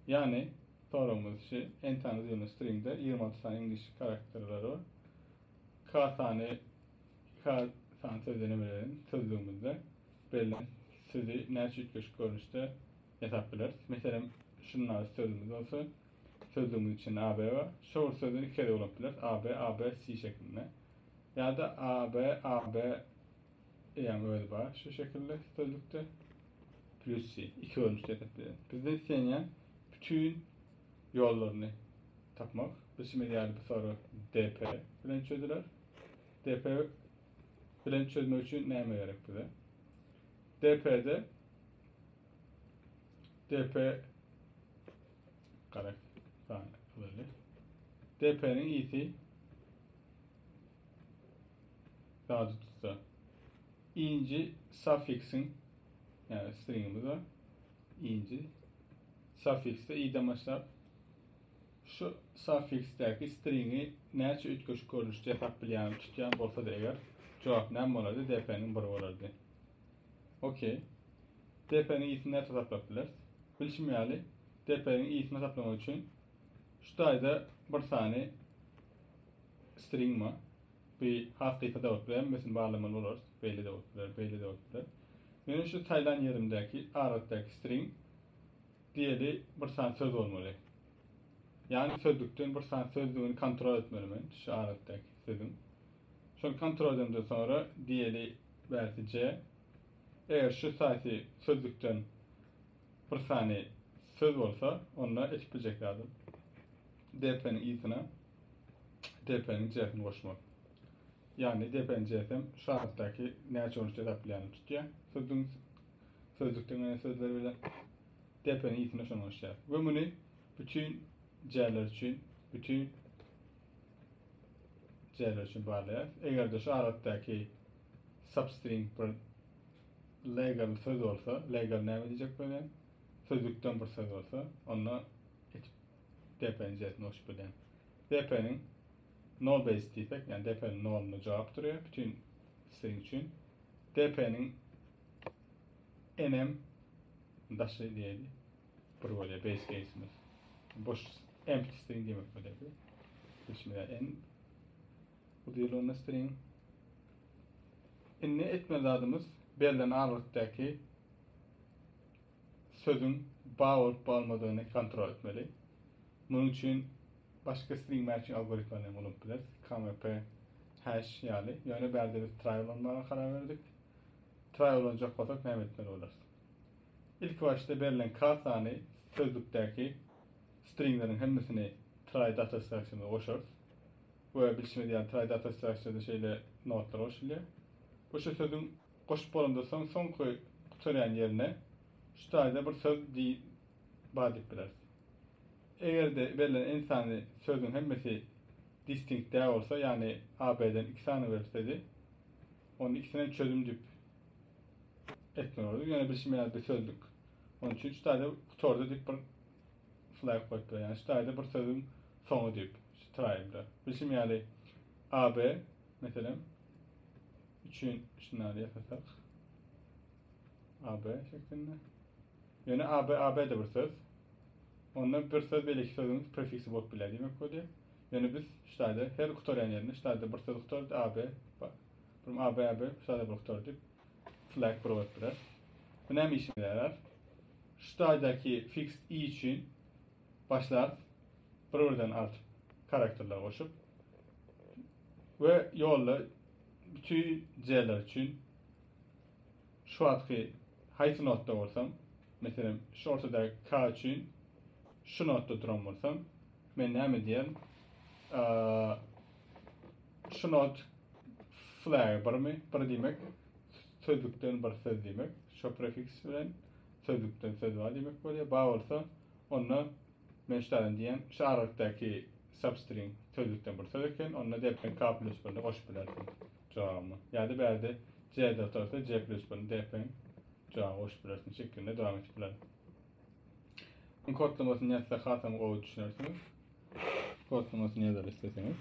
Ýagny, soragymyz şu, entany düzülen stringde ýigrimi alty sany iňlis karakterleri bar. K sany, K sany sözüni neme bilen sözlügimizde berlen sözi näçe üýtgeşik görnüşde ýasap bileris? Meselem, şundaky sözümiz bolsa, sözlügimiziň içinde AB bar. Şo bir sözi iki gezek ulanyp bileris, AB, ABC şeklinde. Ýa-da AB, AB, Eýäň özi bar şu şekilde stolbikde. Plusy iki bölünişde etipdi. Bizden islenýän bütün ýollaryny tapmak. Bilşimiz ýaly bu soru DP bilen çözüler. DP bilen çözmek üçin näme gerek bize? DP-de DP garak sany DP-niň ýiti Ýada tutsa. Inji suffiksiň ýa stringimiz bar. Inji suffiksde iden başlap şu suffiksdäki stringi näçe üýtgeşik görnüşde ýasap bilýän, tutýan bolsa-da eger jogap näme bolardy? DP-niň 1 bolardy. Okey. DP-niň isini näçe hasaplap bileris? Bilşim ýaly, DP-niň isini hasaplamak üçin şu taýda bir sany Stringma, bu has gysga dowut bilen hemmesini barlamaly bolarys, beýle dowut bilen, beýle dowut bilen. Meniň şu saýlan ýerimdäki adatdaky string diýeli bir sany söz bolmaly. Ýagny sözlükden bir sany sözlügini kontrol etmeli men şu adatdaky sözüň. Şony kontrol edemden soňra diýeli bärsi C. Eger şu saýsy sözlükden bir sany söz bolsa, onda etip biljek zadym dp-niň yzyna Depeniň J-sini goşmak. Ýagny depeniň J-sem şu adatdaky näçe orunçy esaplaýanyny tutýar. Sözüň sözlükden gelen sözler bilen depeniň i-sine şony goşýarys. We muny bütin J-ler üçin, bütin J-ler üçin barlaýarys. Eger-de şu adatdaky substring bir legal söz bolsa, legal näme diýjek bilen, sözlükden bir söz bolsa, onda Depeniň zetini goşup bilen. Depeniň nol base diýsek, ýagny depeniň nolunda jogap durýar bütin string üçin. Depeniň enm daşy diýeli bir bolýar base case'imiz. Boş empty string diýmek bolýar bu. Geçmede en bu diýilende string. Indi etmeli zadymyz berlen argykdaky sözüň bag bolup bolmadygyny kontrol etmeli. Munuň üçin başga string matching algoritmalaryny hem ulanyp bileris, KMP hash ýaly. Ýöne bärde biz try ulanmaga karar berdik. Try ulanjak bolsak näme etmeli bolarys? Ilki başda berlen k sany sözlükdäki stringleriň hemmesini try data strukturymyza goşarys. We bilşimiz ýaly try data strukturda şeýle notlar goşulýar. Bu şu sözüň Goşup bolanda soň soňky gutarýan ýerine şu taýda bir söz di bar diýip bileris. Eger-de berlen en sany sözüň hemmesi distinkt däl bolsa, ýagny AB-den iki sany beripsedi, onda ikisinem çözüm diýip etmeli bolardy. Ýöne bilşim ýaly bi sözlük. Onuň üçin şu taýda gutardy diýip bir flag goýup biler. Ýagny şu taýda bir sözüň soňy diýip şu traýda. Bilşim ýaly AB meselem üçin şundan ýasasak. AB şeklinde. Ýöne AB AB-de bir söz. Onda bir söz belki sözüň prefiksi bolup biler diýmek boldy. Ýöne biz ştaýda her gutarýan ýerinde ştaýda bir söz gutardy AB. Bir AB AB ştaýda bir gutar diýip flag bir goýup biler. Bu näme işimize ýarar? Ştaýdaky fixed i üçin başlarys bir birden artyp karakterler goşup we ýolda bütün jeller üçin şu atky haýsy notda bolsam meselem şu ortada K üçin şu notda duran bolsam men näme diýerin şu not flag birmi bir diýmek sözlükden bir söz diýmek şu prefiks bilen sözlükden söz bar diýmek bolýar bar bolsa Onda Meşdaýan diýen şu aralykdaky substring sözlükden bir söz eken, onda dep pen ka plus birini goşup bilersiň jogabyna. Ýa-da bärde je de otursa je plus birini dep pen jogabyna goşup bilersiň şeklinde dowam etip bilerin. Iň kodlamasyny ýazsak hasam gowy düşünersiňiz. Kodlamasyny ýazaly isleseňiz.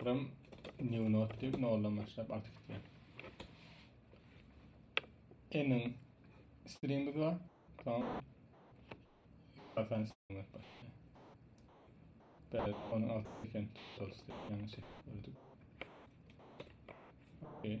Buram new note diýip noldan başlap artyp gitýär. Emin stringimiz bar. Soň reference string bar. Böyle onun altı eken totals diýip ýaňy çekip gördük. Okay.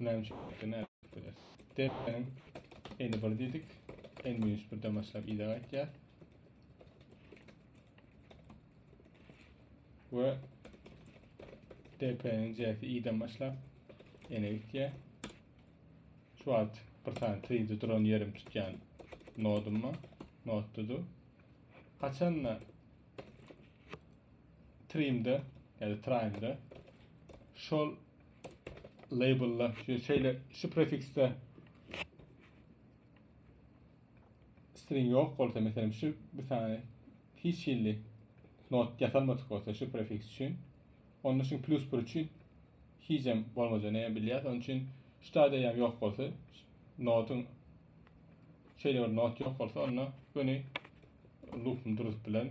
Näme üçin? Näme üçin? Depeniň eni bir diýdik. En minus birden başlap ýa gaýtýar. We depeniň jäsi iden başlap ene gitýär. Şu wagt bir sany tride duran ýerim tutýan nodum bar. Nodda dur. Haçanda trimde ýa-da trimde şol labelda şeýle şu prefiksde string ýok bolsa, meselem şu bir sany hiç hilli not ýasalmadyk bolsa şu prefiks üçin, onda şu plus bir üçin hiç hem bolmajany hem bilýäs. Onun üçin şu taýda hem ýok bolsa, notun şeýle bir not ýok bolsa, onda göni loopum durup bilen.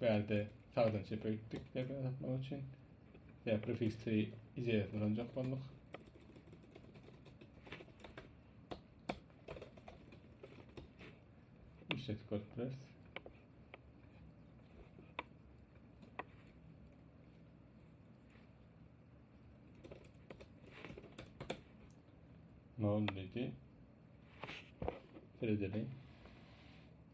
Bärde sagdan çepe gitdik sebäbi satmak üçin. Ya prefiksi izeýäsini alanjak bolduk. İşletip görüp bileriz. Nol dedi. Seredelim.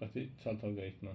Gaty çaltawly aýtma.